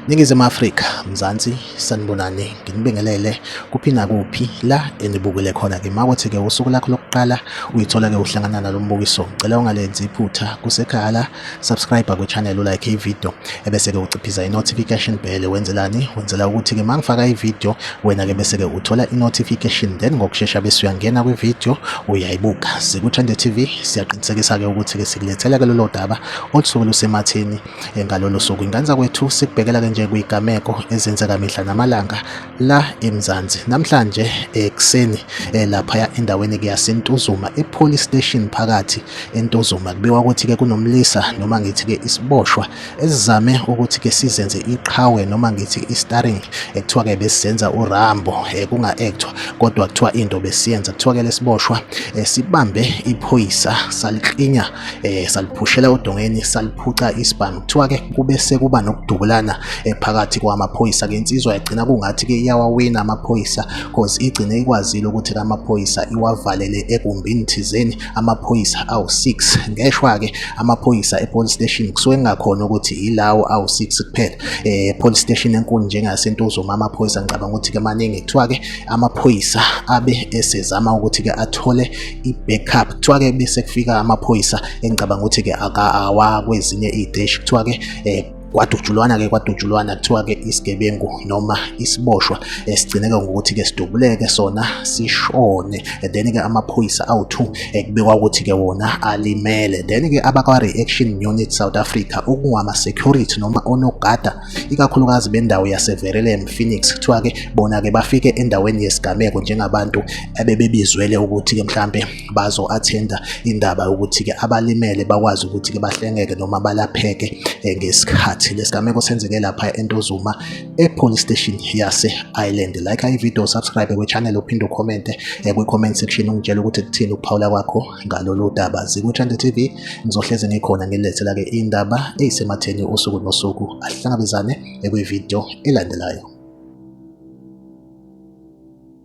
Ningizimu Afrika, Mzansi, sanibonani, nginibingelele kuphi nakuphi la enibukile khona ke makothi ke usuku lakho lokuqala uyithola ke uhlangana nalo mbukiso. Ngicela ungalenzi iphutha kusekhaya la subscribe kwichannel ulike ivideo ebese-ke uciphiza i-notification bell wenzelani wenzela ukuthi-ke uma ngifaka ivideo wena-ke bese-ke uthola i-notification then ngokushesha bese uyangena kwivideo uyayibuka sikuthande tv siyaqinisekisa-ke ukuthi-ke sikulethela-ke lolo daba olusuke lusematheni eh, ngalolo suku ingane zakwethu sikubhekela-ke nje kuyigameko ezenzeka mihla namalanga la eMzansi namhlanje ekuseni eh, laphaya endaweni ke yaseNtuzuma ePolice Station phakathi eNtuzuma kubiwa ukuthi ke kunomlisa noma ngithi ke isiboshwa esizame ukuthi ke sizenze iqhawe noma ngithi istaring ekuthiwa ke besizenza uRambo eh, kunga actwa kodwa kuthiwa into besiyenza kuthiwa ke lesiboshwa eh, sibambe iphoyisa saliklinya eh saliphushela odongeni saliphuca isibhamu kuthiwa ke kube sekuba nokudubulana eh, phakathi kwamaphoyisa ke insizwa yagcina kungathi ke iyawawina amaphoyisa cause igcine ikwazile ukuthi ke amaphoyisa iwavalele egumbini thizeni amaphoyisa awu6 ngeshwa ke amaphoyisa epolice station kusuke kungakhona ukuthi yilawo awu6 kuphela eh police station enkulu njengasentuzuma amaphoyisa ngicabanga ukuthi ke maningi kuthiwa ke amaphoyisa abe esezama ukuthi ke athole i-backup kuthiwa-ke bese kufika amaphoyisa engicabanga ukuthi-ke akawa kwezinye iy'teshi kuthiwa-ke um kwadutshulwana-ke kwadutshulwana kuthiwa-ke isigebengu noma isiboshwa esigcineke eh, ngokuthi-ke sidubuleke sona sishone eh, then-ke amaphoyisa awu-two eh, kubekwa ukuthi-ke wona alimele then-ke abakwa-reaction unit south africa okungama-security noma onogada ikakhulukazi bendawo yaseVerelem Phoenix kuthiwa ke bona ke bafike endaweni yesigameko njengabantu ebebebizwele ukuthi ke mhlambe bazo attenda indaba ukuthi ke abalimele bakwazi ukuthi ke bahlengeke noma balapheke eh, ngesikhathi lesigameko senzeke lapha eNtozuma ePolice Station yase Island like i video subscribe kwe channel uphinde ucommente eh, kwi comment section ungitshela ukuthi kuthini ukuphawula kwakho ngalolu daba zikuthanda TV ngizohlezi ngikhona ngilethela ke indaba eyisematheni usuku nosuku ahlangabezane ekwivideo elandelayo